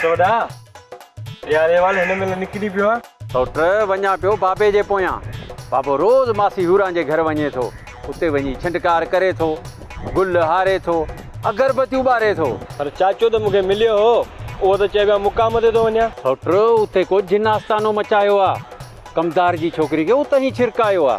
سوٽوڏا! اها ريوال هن مهل نڪري پيو آ. سوٽ، وڃان پيو بابي جي پويان. بابو روز ماسي هوران جي گهر وڃي ٿو. اتي وڃي ڇنڊڪار ڪري ٿو، گل هاري ٿو، اگربتيون ٻاري ٿو. پر چاچو ته مون کي مليو هو، اهو ته چئي ويا مقام تي ٿو وڃان. سوٽ، اتي ڪو جن آستانو مچايو آ. ڪمدار جي ڇوڪري کي اتهين ڇرڪايو آ.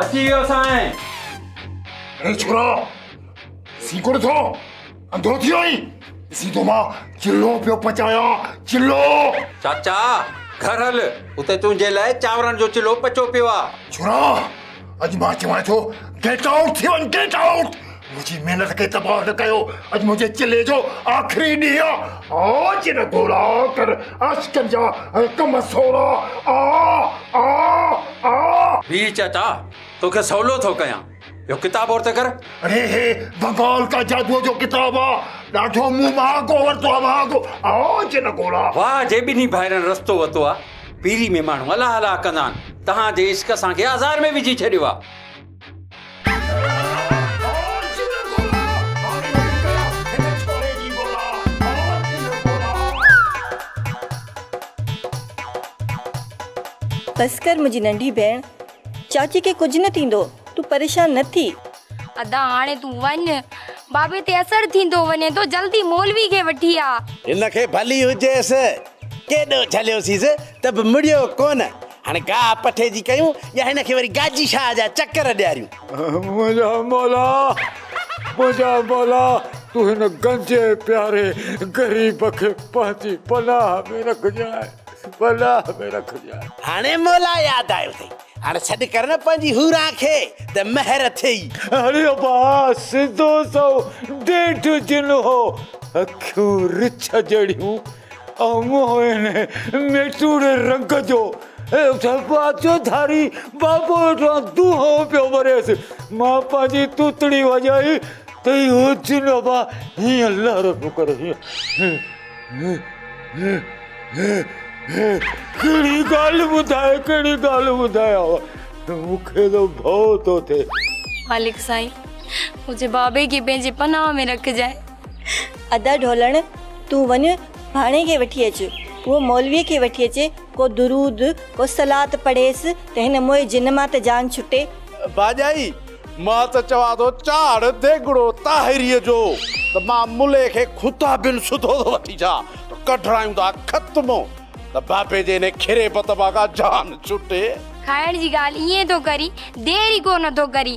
اچي ويو سائين. اي ڇورا سيڪوڙ ٿو انڌو ٿيو آهين ڏسين ٿو مان چلو پيو پچايان چلو چاچا گهر هل اتي تنهنجي لاء چانورن جو چلو پچو پيو آ ڇورا اڄ مان چوان ٿو گيٽ آئوٽ ٿي وڃ گيٽ آئوٽ منهنجي محنت کي تباهه نه ڪيو اڄ منهنجي چلي جو آخري ڏينهن آ آج نه گولا ڪر عشق جا حڪم سولا آ آ آ هي چيتا توکي سولو ٿو ڪيان اهو ڪتاب اور ته ڪر اڙي هي بنگال ڪا جادو جو ڪتاب آ ڏاڍو مون مهانگو ورتو آ مهانگو آ آج نه گولا واهه جي ٻنهي ڀائرن رستو وتو آ پيري ۾ ماڻهو الاهه الاهه ڪندا آهن تهان جي عشق اسان کي آزار ۾ وجهي ڇڏيو آ. بس ڪر منهنجي ننڍي ڀيڻ. چاچي کي ڪجهه نه ٿيندو. تون پريشان نه ٿي. ادا هاڻي تون وڃ. بابي تي اثر ٿيندو وڃي ٿو. جلدي مولوي کي وٺي آ. هن کي ڀلي هجيس. ڪيڏو جهليوسيس ته به مڙيو ڪونه. هاڻي گاهه پٺي جي ڪيون يا هن کي وري گاجي شاهه جا چڪر ڏياريون. منهنجا مولا منهنجا مولا تون هن گنجي پياري غريب کي پنهنجي پناهه ۾ رکجانء پناهه ۾ رکجانء. هاڻي مولا ياد آيو اٿئي هاڻي سڏ ڪر نه پنهنجي حوران کي ته مهر اٿئي. هاڻي ابا سڌو سئو ڏيڍ جنهو اکيون رڇ جهڙيون موهن ميٽوڙ رنگ جو ڦاٿو ڌاري بابو وٽان دونهو پيو ڀريس. مان پنهنجي توتڙي وڄائي ته اهو جنو به هيئن لهر پيو ڪري هيئن ڪهڙي ڳالهه ٻڌائي ڪهڙي ڳالهه ٻڌايانء مون کي ته ڀؤ ٿو ٿئي. مالڪ سائين منهنجي بابي کي پنهنجي پناهه ۾ رکجانء. ادا ڍولڻ تون وڃ ڀاڻي کي وٺي اچ اهو مولويء کي وٺي اچي ڪو درود ڪو صلات پڙهيس ته هن موئي جن مان ته جان ڇٽي. باجائي، مان ته چوان ٿو چاڙهه ديڳڙو طاهريء جو ته مان ملئي کي خدا بن سڌو ٿو وٺي اچان ته ڪڍرايون ٿا ختمو ته بابي جي انهي کري بت مان ڪا جان ڇٽي. کائڻ جي ڳالهه ائين ٿو ڪرين دير ئي ڪو نه ٿو ڪرين.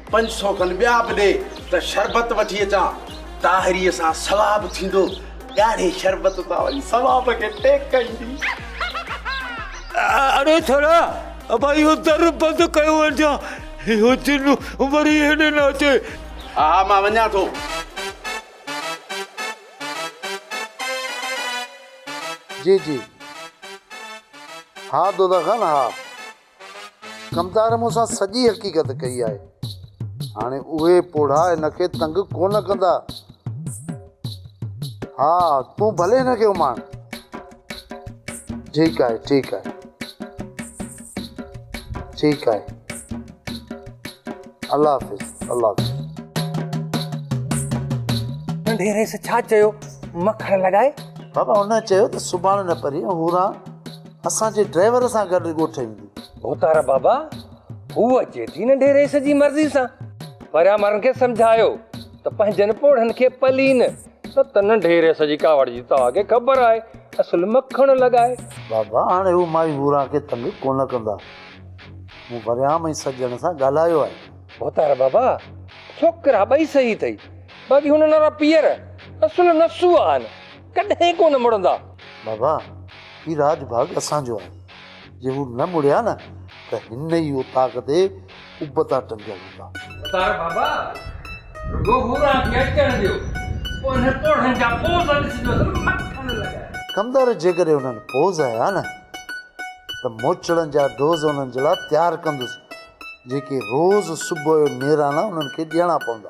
پنج سؤ کن ٻيا به ڏي ته شربت وٺي اچان. طاهريء سان ثواب ٿيندو. ڳاڙهي شربت تان وري ثواب کي ٽيڪ ايندي. اڙي ڇڙا ابا اهو در بند ڪيو وڃان. اهو جن وري هيڏي نه اچي. ها ها مان وڃان ٿو. جي جي ها دوداخان ها. ڪمدار مون سان سڄي حقيقت ڪئي آهي. هاڻي اهي پوڙها هن کي تنگ ڪو نه ڪندا. ها، تون ڀلي هن کي اماڻ. ٺيڪ آهي، ٺيڪ آهي. ٺيڪ آهي. الله حافظ، الله حافظ. ننڍي رئيس ڇا چيو؟ مکڙ لڳائي. بابا هن چيو ته سڀاڻ نه پرينء هوران. اسان جي ڊرائيور سان گڏ ڳوٺ ايندي. ڀوتار بابا، هوء اچي ٿي ننڍي رئيس جي مرضي سان. پريان مارن کي سمجهايو ته پنهنجن پوڙهن کي پلين، نه ته ننڍي رئيس جي ڪاوڙ جي توهان کي خبر آهي، اصل مکڻ لڳائي. بابا، هاڻي هو مائي ڀوران کي تنگ ڪونه ڪندا. مون پريان ۽ سڄڻ سان ڳالهايو آهي. ڀوتار بابا، ڇوڪرا ٻئي صحيح اٿئي، باقي هو ننڍڙا پيئر، اصل نسو آهن. ڪڏهن ڪونه مڙندا. بابا هي راج ڀاڳ اسان جو آهي جي هو نه مڙيا نه ته هن ئي اوطاق تي ابتا ٽنگيل هوندا. ستار بابا رڳو هو رات کي اچڻ ڏيو پوء انهن پوڙهن جا پوز ڏسجوس نه مکڻ لڳا. ڪمدار جيڪڏهن انهن پوز هنيا نه ته موچڙن جا ڊوز انهن جي لاء تيار ڪندس جيڪي روز صبح جو نيرانا انهن کي ڏيڻا پوندا.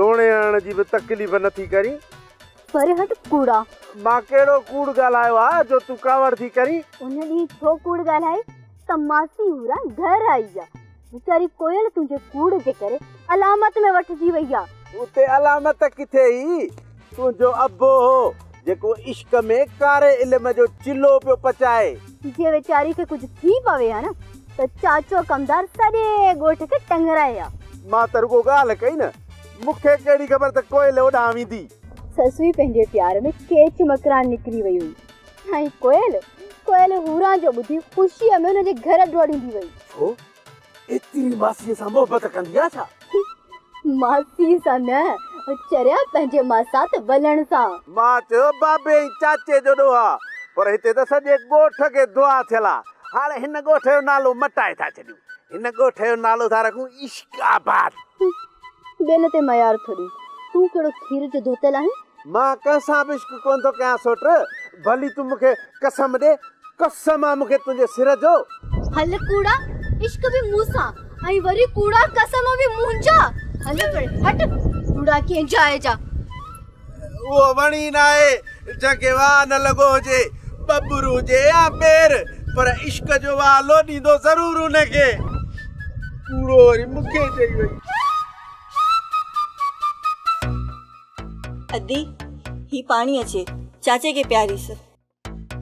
لوڻي هڻڻ جي به تڪليف نه ٿي ڪرين. پر هٽ ڪوڙا. مان ڪهڙو ڪوڙ ڳالهايو آ جو تون ڪاوڙ ٿي ڪرين. ان ڏينهن ڇو ڪوڙ ڳالهائي ته ماسي هورا گهر آئي آ. ويچاري ڪوئل تنهنجي ڪوڙ جي ڪري علامت ۾ وٺجي وئي آ. اتي علامت ڪٿي هئي. تنهنجو ابو هو جيڪو عشق ۾ ڪاري علم جو چلهو پيو پچائي. جي ويچاري کي ڪجهه ٿي پوي ها نه ته چاچو ڪمدار سڄي ڳوٺ کي ٽنگرائي ها. مان ته رڳو ڳالهه ڪئي نه مون کي ڪهڙي خبر ته ڪوئل اوڏانهن ويندي. سسوي پنهنجي پيار ۾ ڪيچ مڪران نڪري وئي هئي ۽ ڪوئل ڪوئل هوران جو ٻڌي خوشيء ۾ ان جي گهر ڊوڙيندي وئي. ڇو؟ ايتري ماسيء سان محبت ڪندي آ ڇا؟ ماسيء سان نه چريا پنهنجي ماسات ولڻ سان. مان چيو بابي ۽ چاچي جو ڏوهه آ پر هتي ته سڄي ڳوٺ کي دعا ٿيل آ هاڻي هن ڳوٺ جو نالو مٽائي ٿا ڇڏيون هن ڳوٺ جو نالو ٿا رکون عشق آباد. ٻين تي ميار ٿو ڏي تون ڪهڙو کير جو ڌوتل آهين مان ڪنهن سان به عشق ڪونه ٿو ڪيان سوٽ، ڀلي تون مون کي قسم ڏي، قسم آ مون کي تنهنجي سر جو. هل ڪوڙا، عشق به مون سان ۽ وري ڪوڙا قسم به منهنجا، هل پري هٽ ڪوڙا ڪنهن جاء جا. اهو وڻ ئي ناهي جنهن کي واء نه لڳو هجي، ٻٻر هجي يا پير، پر عشق جو واء لوڏيندو ضرور ان کي. ڪوڙو وري مون کي چئي وئي. ادي هي پاڻي اچي چاچي کي پياريس.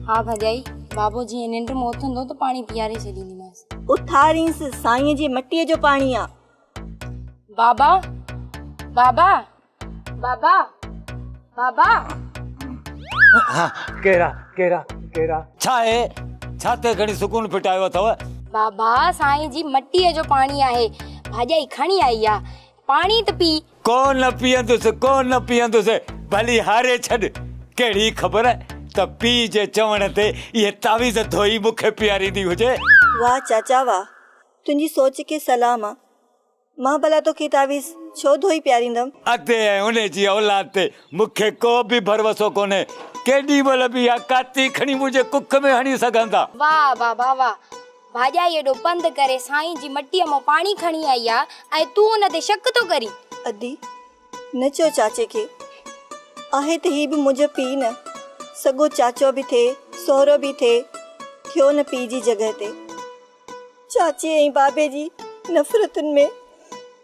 ها ڀڄائي بابو جيئن ننڊ مان اٿندو ته پاڻي پياري ڇڏينديمانس. اٿارينس سائين جي مٽيء جو پاڻي آ. بابا بابا بابا بابا. ها ڪهڙا ڪهڙا ڪهڙا. ڇا هي ڇا تي کڻي سڪون ڦٽايو اٿو. بابا سائين جي مٽيء جو پاڻي آهي ڀاڄائي کڻي آئي آ. پاڻي ته پي. ڪو نه پيئندس، ڪو نه پيئندس، ڀلي هاري ڇڏ. ڪهڙي خبر ته پيء جي چوڻ تي اهي تعويذ ڌوئي مون کي پياريندي هجي. واهه چاچا واهه، تنهنجي سوچ کي سلام. مان ڀلا توکي تعويذ ڇو ڌوئي پياريندم. ادي ۽ ان جي اولاد تي مون کي ڪو به ڀروسو ڪونهي. ڪيڏي مهل به اها ڪاتي کڻي منهنجي ڪک ۾ هڻي سگهن ٿا. واهه بابا واهه، ڀاڄائي ايڏو پنڌ ڪري سائين جي مٽيء مان پاڻي کڻي آئي آ ۽ تون ان تي شڪ ٿو ڪرين؟ ادي، نه چئو چاچي کي. آهي ته هي به منهنجو پيء نه، سڳو چاچو به ٿئي، سهرو به ٿئي، ٿيو نه پيء جي جڳهه تي. چاچي ۽ بابي جي نفرتن ۾.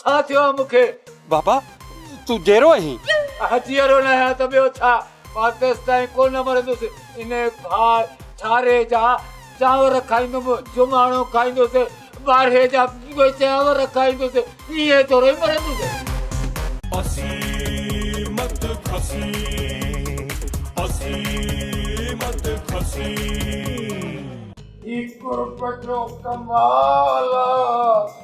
ڇا ٿيو آهي مون کي؟ بابا تون جيئرو آهين؟ اها جيئرو نه آهيان ته ٻيو ڇا؟ مان تيستائين ڪو نه مرندس. انهي ڀاء ڇاري جا چانور کائيندم، جماڻو کائيندس، ٻارهي جا چانور کائيندس، ايئن ٿورو ئي مرندس. اسين مت کسين، اسين مت کسين. هي قرب جو ڪمال آ.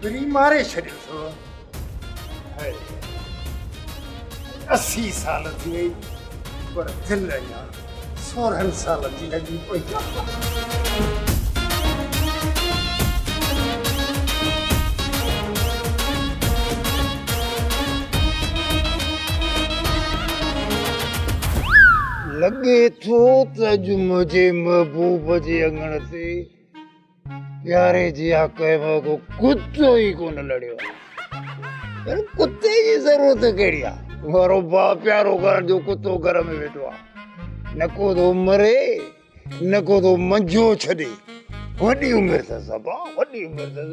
پرين ماري ڇڏيو اٿو. هاء اسي سال ٿي وئي پر دل اڃا سورهن سالن جي لڳي پئي آ. لڳي ٿو ته اڄ منهنجي محبوب جي اڱڻ تي پياري جي حق ۾ ڪو ڪتو ئي ڪونه لڙيو آهي پر ڪتي جي ضرورت ڪهڙي آهي وارو با پيارو ڪرڻ جو ڪتو گهر ۾ ويٺو آهي نه ڪو ٿو مري نه ڪو ٿو منجهو ڇڏي وڏي عمر اٿس ابا وڏي عمر اٿس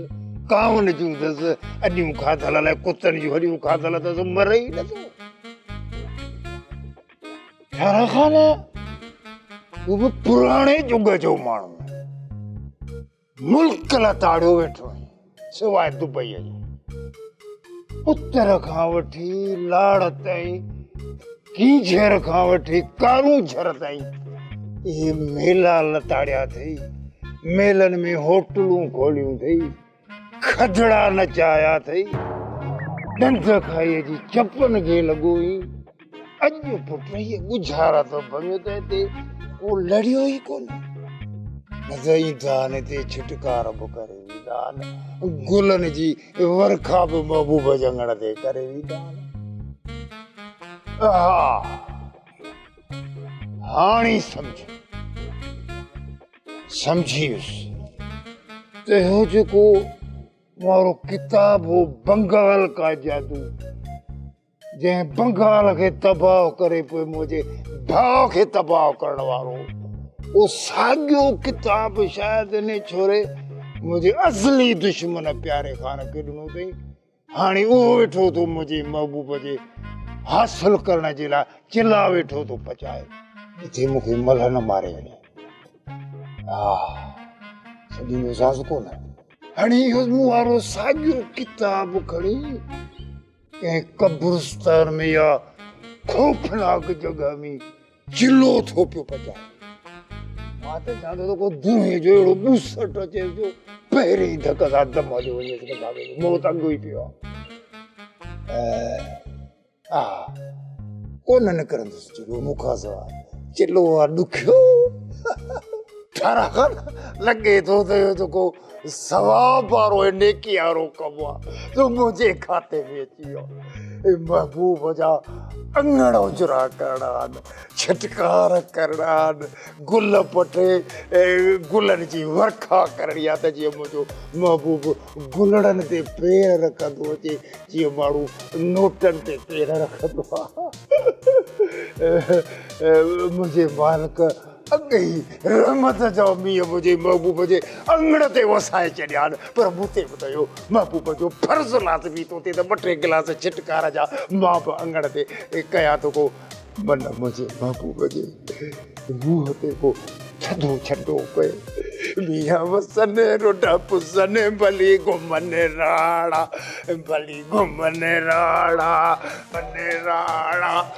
ڪاون جون اٿس اڏيون کاڌل الائي ڪتن جون هڏيون کاڌل اٿس مري ئي نٿو خان هو به پراڻي جگ جو ماڻهو ملڪ لا تاڙيو ويٺو آهي سواء دبئي جو اتر کان وٺي لاڙ تائين ڪي جھر کان وٺي ڪارون جھر تائين اهي ميلا لتاڙيا اٿئي ميلن ۾ هوٽلون کوليون اٿئي کدڙا نچايا اٿئي، ڏند کائي جي چپن کي لڳو هين، اڄ پٽ هيء ڳجهارا ٿو ڀڃو ته هتي ڪو لڙيو ئي ڪونه. نزائين دان هتي ڇٽڪار به ڪري ويندان، گلن جي ورکا به محبوب جي اڱڻ تي ڪري ويندان. اها هاڻي سمجهه. سمجهيس ته اهو جيڪو مارو ڪتاب هو بنگال کا جادو جنهن بنگال کي تباهه ڪري پوء منهنجي ڀاء کي تباهه ڪرڻ وارو اهو ساڳيو ڪتاب شايد ان ڇوري منهنجي اصلي دشمن پياري خان کي ڏنو اٿئي هاڻي اهو ويٺو ٿو منهنجي محبوب جي حاصل ڪرڻ جي لاء چلا ويٺو ٿو پچائي جتي مون کي ملهه نه ماري وڃي ها سڀني جو ساز ڪونه هاڻي اهو مون وارو ساڳيو ڪتاب کڻي ڪنهن قبرستان ۾ يا خوفناڪ جڳهه ۾ چلو ٿو پيو پچائي مان ته چاهيان ٿو ته ڪو دونهي جو اهڙو ٻوسٽ اچيس جو پهرين ئي ڌڪ سان دم هليو وڃيس ته بابي جو موت اڳو ئي پيو آهي ها ڪونه نڪرندس چلو مون کان سواء چلو آ ڏکيو ٺارا خان لڳي ٿو ته اهو ته ڪو ثواب وارو ۽ نيڪي وارو ڪم آ جو منهنجي کاتي ۾ اچي ويو اي محبوب جا اڱڻ اجرا ڪرڻا آن ڇٽڪار ڪرڻا آن گل پٽي گلن جي ورکا ڪرڻي آ ته جيئن منهنجو محبوب گلڙن تي پير رکندو اچي جيئن ماڻهو نوٽن تي پير رکندو آ منهنجي مالڪ اڳ ئي رحمت جو مينهن منهنجي محبوب جي اڱڻ تي وسائي ڇڏيا آهن، پر مون تي به ته اهو محبوب جو فرض لازمي ٿو ٿئي ته ٻه ٽي گلاس ڇٽڪار جا مان به اڱڻ تي ڪيان ٿو ڪو من منهنجي محبوب جي منهن تي ڪو ٿڌو ڇٽو پئي. مينهن وسني رڍ پسني ڀلي گهمني راڙا، ڀلي گهمني راڙا، گهمني راڙا.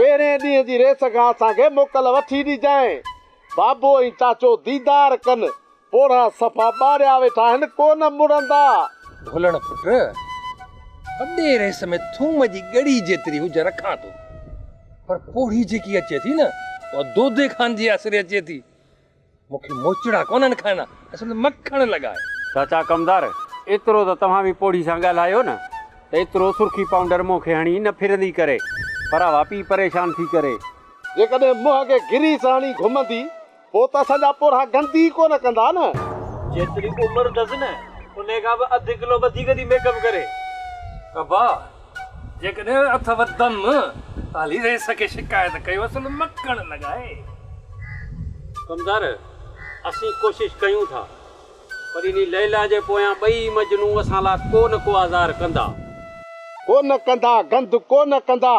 پهرئين ڏينهن جي ريس کان اسان کي موڪل وٺي ڏجانء. بابو ۽ چاچو ديدار ڪن. پوڙها صفا ٻاڙيا ويٺا آهن، ڪو نه مڙندا. ڀولڻ پٽ، وڏي ريس ۾ ٿوم جي ڳڙي جيتري هجن رکان ٿو، پر پوڙهي جيڪي اچي ٿي نه، اها دودي خان جي آسري اچي ٿي. مون کي موچڙا ڪونهن کائڻا، اصل مکڻ لڳا آهي. چاچا ڪمدار، ايترو ته توهان به پوڙهي سان ڳالهايو نه ته ايترو سرخي پائونڊر منهن کي هڻي نه ڦرندي ڪري، پر اها پي پريشان ٿي ڪري. جيڪڏهن منهن کي گريس هڻي گهمندي، پوء ته اسان جا پورها گندي ئي ڪونه ڪندا نه. جيتري عمر اٿس نه، انهي کان به اڌ ڪلو وڌيڪ ٿي ميڪ اپ ڪري. ابا، جيڪڏهن اٿئو دم ته هلي رئيس کي شڪايت ڪيو سن مڪڻ لڳائي. ڪمدار، اسين ڪوشش ڪيون ٿا، پر انهي ليليٰ جي پويان ٻئي مجنون اسان لاء ڪو نه ڪو آزار ڪندا. ڪو نه ڪندا، گند ڪو نه ڪندا.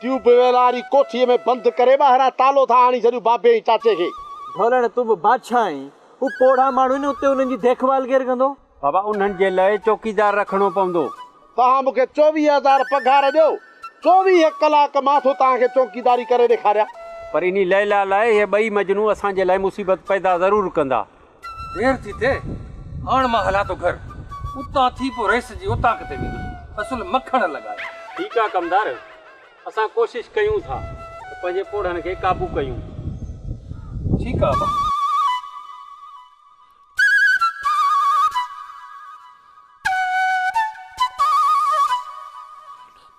ٽيوب ويل واري ڪوٺيء ۾ بند ڪري ٻاهران تالو ٿا آڻي ڇڏيون بابي ۽ چاچي کي. ڍولڻ تون به بادشاهه آهين. هو پوڙها ماڻهو آهن اتي انهن جي ديک ڀال ڪير ڪندو؟ بابا انهن جي لئه چوڪيدار رکڻو پوندو. توهان مون کي چوويهه هزار پگهار ڏيو چوويهه ڪلاڪ مان ٿو توهان کي چوڪيداري ڪري ڏيکاريان. پر انهي ليليٰ لاء اهي ٻئي مجنون اسان جي لاء مصيبت پيدا ضرور ڪندا. دير ٿي ٿئي، هاڻ مان هلان ٿو گهر. اتان ٿي پوء رئيس جي اوطاق تي ويندس، اصل مکڻ لڳائي. ٺيڪ آ ڪمدار، اسان ڪوشش ڪيون ٿا ته پنهنجي پوڙهن کي قابو ڪيون. ٺيڪ آ ابا.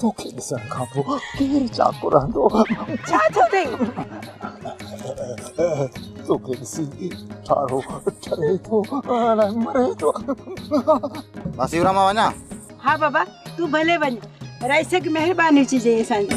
توکي ڏسڻ کان پوء ڪير چاڪو رهندو ڇا ٿيو اٿئي توکي ڏسي ٺارو ٺري ٿو اڻ مري ٿو مان سيورا مان وڃان ها بابا تون ڀلي وڃ رئيس کي مهرباني چئجي اسان جي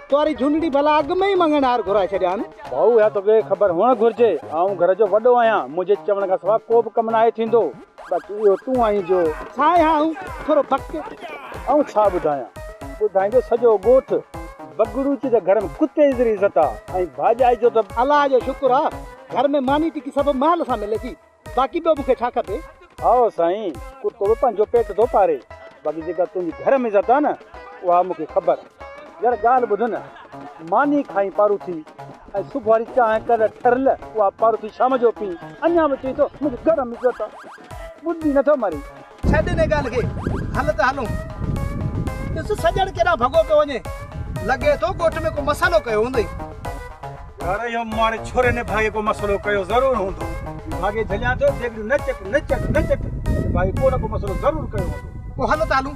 تواري جهونڙي ڀلا اڳ ۾ ئي مڱڻ هار گهرائي ڇڏيان. ڀائو اها توکي خبر هئڻ گهرجي آئون گهر جو وڏو آهيان منهنجي چوڻ کان سواء ڪو به ڪم ناهي ٿيندو. باقي اهو تون آهين جو. سائين ها هون ٿورو بڪ. آئون ڇا ٻڌايان. ٻڌائيندو سڄو ڳوٺ. بگڙوچي ته گهر ۾ ڪتي جيتري عزت آ ۽ ڀاڄائي جو ته. الله جو شڪر آ گهر ۾ ماني ٽڪي سڀ مهل سان ملي ٿي. باقي ٻيو مون کي ڇا کپي؟ هائو سائين، ڪتو به پنهنجو پيٽ ٿو پاري، باقي جيڪا تنهنجي گهر ۾ عزت آهي نه، اها مون کي خبر آهي. يار ڳالهه ٻڌ نه، ماني کائين پاروٿي ۽ صبح واري چانهه ڪر ٺرل، اها پاروٿي شام جو پي، اڃا به چوين ٿو منهنجي گهر ۾ عزت آهي. ٻڌ ئي نٿو مرين، ڇڏ انهي ڳالهه کي، هل ته هلون. ڏس سڄڻ ڪيڏانهن ڀڳو پيو وڃي. لڳي ٿو ڳوٺ ۾ ڪو مسئلو ڪيو هوندئي. يار اهو ماڙي ڇوري نڀاڳي ڪو مسئلو ڪيو ضرور هوندو. نڀاڳي جهليان ٿيو، ڊيگڙيون نه چٽ نه چٽ نه چٽ. نڀاڳي ڪو نه ڪو مسئلو ضرور ڪيو هوندو. پوء هل ته هلون.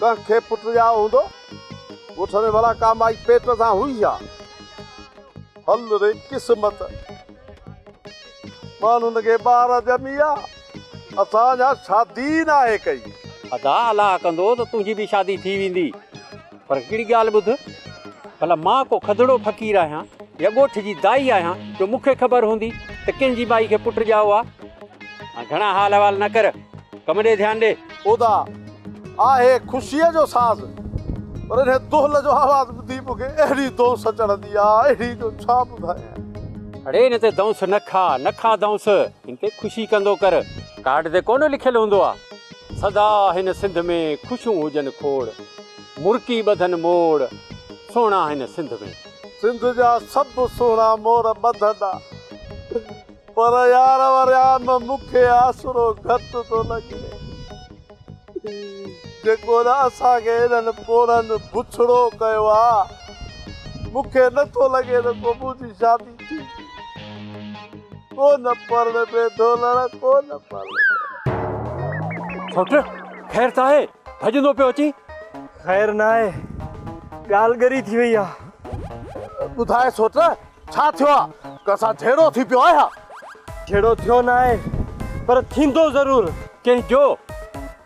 ڪنهن کي پٽ ڄائو هوندو. ڳوٺ ۾ ڀلا ڪا مائي پيٽ سان هئي ڇا؟ هل ري قسمت. ماڻهن کي ٻار ڄمي آ. اسان اڃا شادي ئي ناهي ڪئي. ادا الله ڪندو ته تنهنجي به شادي ٿي ويندي. پر هڪڙي ڳالهه ٻڌ، ڀلا مان ڪو کدڙو فقير آهيان يا ڳوٺ جي دائي آهيان جو مون کي خبر هوندي ته ڪنهن جي مائي کي پٽ ڄائو آ؟ هاڻ گهڻا حال احوال نه ڪر، ڪم ڏي ڌيان ڏي. ادا، آهي خوشيء جو ساز، پر انهيء دهل جو آواز ٻڌي مون کي اهڙي دونس چڙهندي آ، اهڙي جو ڇا ٻڌايان. اڙي هن تي دونس نه کاء، نه کاء دونس، هن تي خوشي ڪندو ڪر، ڪارڊ تي ڪونه لکيل هوندو آ. سدا هن سنڌ ۾ خوشون هجن کوڙ. مرڪي ٻڌن موڙ سهڻا هن سنڌ ۾. سنڌ جا سڀ سهڻا موڙ ٻڌندا. پر يار وريام مون کي آسرو گهٽ ٿو لڳي. جيڪو نه اسان کي انهن پوڙهن بڇڙو ڪيو آ. مون کي نه ٿو لڳي ته ڪو منهنجي شادي ٿيندي. ڪو نه پرڻي پئي ٿو لاڙا ڪو نه پرڻي پئي. سوٽ خير ته آهي ڀڄندو پيو اچين. خير ناهي ڳالهه ڳري ٿي وئي آهي. ٻڌاء سوٽ ڇا ٿيو آهي ڪنهن سان جهيڙو ٿي پيو آهي ها. جهيڙو ٿيو ناهي پر ٿيندو ضرور. ڪنهن جو؟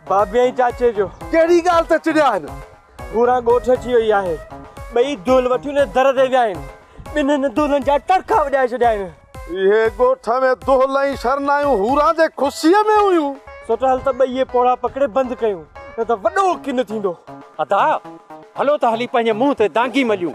بابي ۽ چاچي جو. ڪهڙي ڳالهه تي چڙيا آهن. گوران ڳوٺ اچي وئي آهي. ٻئي دول وٺي ان جي در تي ويا آهن. ٻنهن دولن جا ٽڙڪا وڄائي ڇڏيا آهن. اهي ڳوٺ ۾ دول ۽ شرنايون هوران جي خوشيء ۾ هيون. سوٽ هل ته ٻئي پوڙها پڪڙي بند ڪيون، نه ته وڏو ڪن ٿيندو. ادا! هلو ته هلي پنهنجي منهن تي دانگي مليون.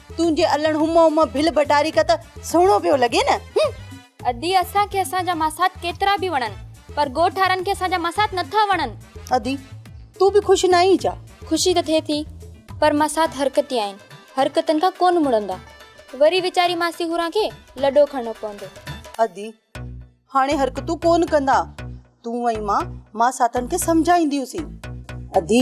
تنهنجي الڻ هم هم ڀل ڀٽاري ڪت سهڻو پيو لڳي نه هم. ادي اسان کي اسان جا ماسات ڪيترا به وڻن پر ڳوٺ وارن کي اسان جا ماسات نٿا وڻن. ادي تون به خوش ناهين ڇا؟ خوشي ته ٿئي ٿي پر ماسات حرڪتي آهن حرڪتن کان ڪونه مڙندا وري ويچاري ماسي هوران کي لڏو کڻڻو پوندو. ادي هاڻي حرڪتون ڪونه ڪندا تون ۽ مان ماساتن کي سمجهائينديون سين. ادي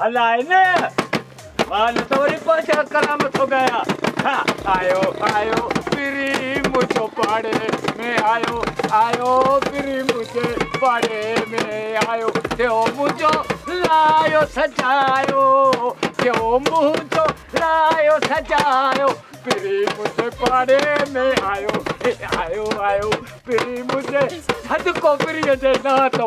هلائي نه وال ته وري پاشا ڪرام ٿو ڳايان ها آيو آيو پري منهنجو پاڙي ۾ آيو آيو پري منهنجي پاڙي ۾ آيو ٿيو منهنجو لايو سجايو ٿيو منهنجو لايو سجايو پري منهنجي پاڙي ۾ آيو آيو آيو پري منهنجي ٿڌڪو پري جي نانء ٿو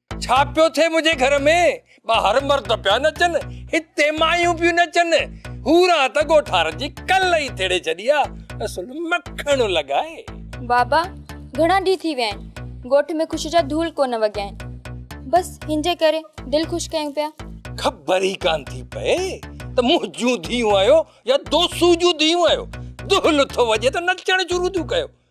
ڇا پيو ٿئي منهنجي گهر ۾، ٻاهر مرد پيا نچن، هتي مايون پيون نچن، حورا ته ڳوٺار جي ڪل ئي ٿيڙي ڇڏي آ، اصل مکڻ لڳائي. بابا گهڻا ڏينهن ٿي ويا آهن، ڳوٺ ۾ خوشي جا ڌول ڪونه وڳيا آهن، بس هن جي ڪري دل خوش ڪيون پيا. خبر ئي ڪانه ٿي پئي ته منهنجون ڌيئون آهيو يا دوسو جون ڌيئون آهيو، دول ٿو وڄي ته نچڻ شروع ٿيون ڪيو،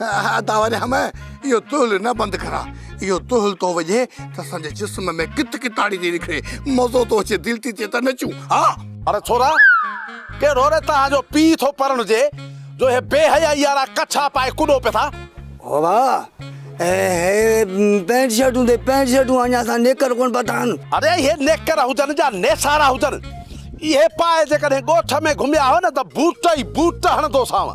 ادا وري همه اهو تهل نه بند ڪرا. اهو تهل ٿو وڄي ته اسان جي جسم ۾ ڪت ڪتاڙي ٿي نڪري. مزو ٿو اچي، دل ٿي چئي ته نچون. ها! اڙي ڇورا، ڪهڙو ري توهان جو پيء ٿو پرڻجي، جو هي بي حيائي وارا ڪڇا پائي ڪڏو پئي ٿا. هو ڀاء، هي پينٽ شرٽون تي پينٽ شرٽون اڃا اسان نيڪر ڪونه پاتا آهن. اڙي اهي نيڪر هجن جا نيسارا هجن، اهي پائي جيڪڏهن ڳوٺ ۾ گهميا هئا نه ته بوٽ ئي بوٽ هڻندوسانو.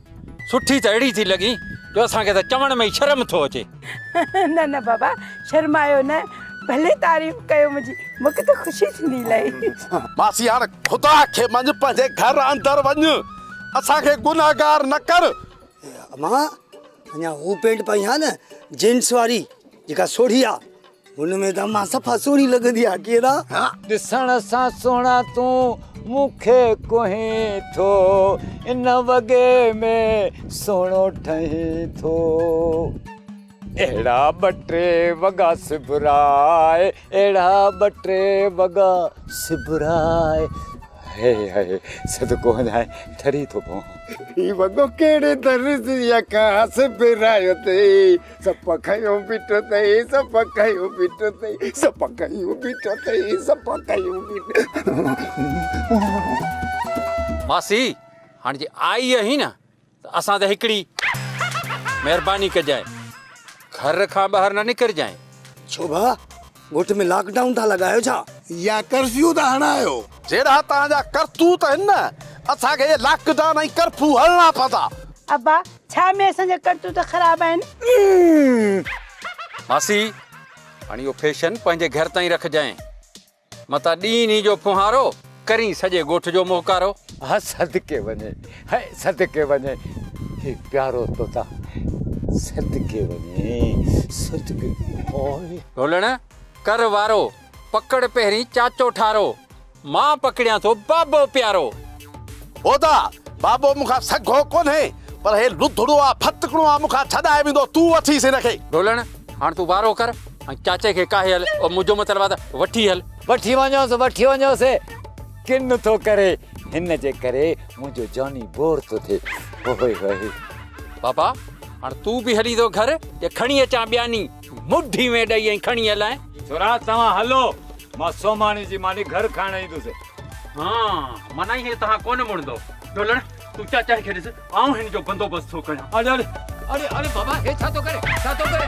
سٺي ته اهڙي ٿي لڳين جو اسان کي ته چوڻ ۾ ئي شرم ٿو اچي. نه نه بابا شرمايو نه ڀلي تعريف ڪيو منهنجي مون کي ته خوشي ٿيندي الائي. ماسي هاڻ خدا کي مڃ پنهنجي گهر اندر وڃ اسان کي گنهگار نه ڪر. امان اڃا هو پينٽ پائين ها نه جينس واري جيڪا سوڙهي آ. هن ۾ ته مان صفا سهڻي لڳندي آهيان ڪيرا. ڏسڻ سان سهڻا تون مون کي ڪهين ٿو. ان وڳي ۾ سهڻو ٺهين ٿو. اهڙا ٻه ٽي وڳا سبراء. اهڙا ٻه ٽي وڳا سبراء. هي هي صدقو هنجاهين ٺري ٿو پوان. هي وڳو ڪهڙي درس جي اکان سبرايو اٿئي. سپ کنيو بيٺو تئي سپ کنيو بيٺو تئي سپ کنيو بيٺو تئي سپ کنيو بيٺو ماسي هاڻ جي آئي آهي نه ته اسان ته هڪڙي مهرباني ڪجانء گهر کان ٻاهر نه نڪرجانء ڇو ڀا ڳوٺ ۾ لاڪ ڊائون ٿا لڳايو ڇا؟ يا ڪرفيو ٿا هڻايو؟ جهڙا توهان جا ڪرتوت آهن نه اسان کي اهي لاڪ ڊائون ۽ ڪرفيو هڻڻا پوندا. ابا ڇا ۾ اسان جا ڪرتوت خراب آهن؟ ماسي هاڻي اهو فيشن پنهنجي گهر تائين رکجانء متان ڏينهن ڏينهن جو ڦونهارو. ڪرين سڄي ڳوٺ جو موهڪارو. هه صدقي وڃي هه صدقي وڃي هي پيارو توتان صدقي وڃي صدقي هوء. ڍولڻ ڪر وارو پڪڙ پهرين چاچو ٺارو مان پڪڙيان ٿو بابو پيارو. هودا! بابو مون کان سگهو ڪونهي پر هي لڌڙو آ ڦتڪڻو آ مون کان ڇڏائي ويندو تون وٺيس هن کي. ڍولڻ هاڻ تون وارو ڪر ۽ چاچي کي ڪاهي هل او منهنجو مطلب آ ته وٺي هل. وٺي وڃوس وٺي وڃوس ڪن ٿو ڪري هن جي ڪري منهنجو جاني بور ٿو ٿئي هوئي هوئي بابا هاڻ تون به هلي ٿو گهر يا کڻي اچان ٻياني مٺي ۾ ڏئي ۽ کڻي هلان ڇورا توهان هلو مان سوماڻي جي ماني گهر کائڻ ايندس ها مانائي هي توهان ڪونه مڙندو ڍولڻ تون چاچا کي ڏس آئون هن جو بندوبست ٿو ڪريان. اڙي اڙي اڙي اڙي بابا هي ڇا ٿو ڪري ڇا ٿو ڪري.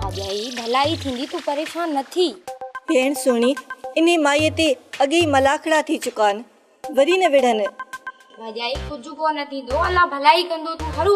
اڄ ئي ڀلائي ٿيندي تون پريشان نه ٿي. ڀيڻ سهڻي انهي مائي تي اڳي ئي ملاکڙا ٿي چڪا آهن وري نه وڙهن. ڀڄائي ڪجهه ڪو نه ٿيندو الله ڀلائي ڪندو تون هڙو.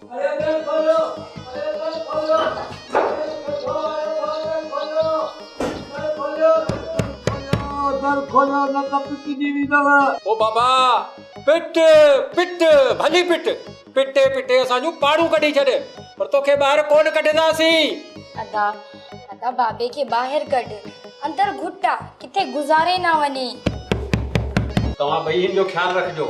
او بابا پٽ پٽ ڀلي پٽ پٽي پٽي اسان جون پاڙون ڪڍي ڇڏ پر توکي ٻاهر ڪونه ڪڍنداسين. ادا ادا بابي کي ٻاهر ڪڍ اندر گهٽ آ ڪٿي گذاري نه وڃي. توهان ٻئي هن جو خيال رکجو.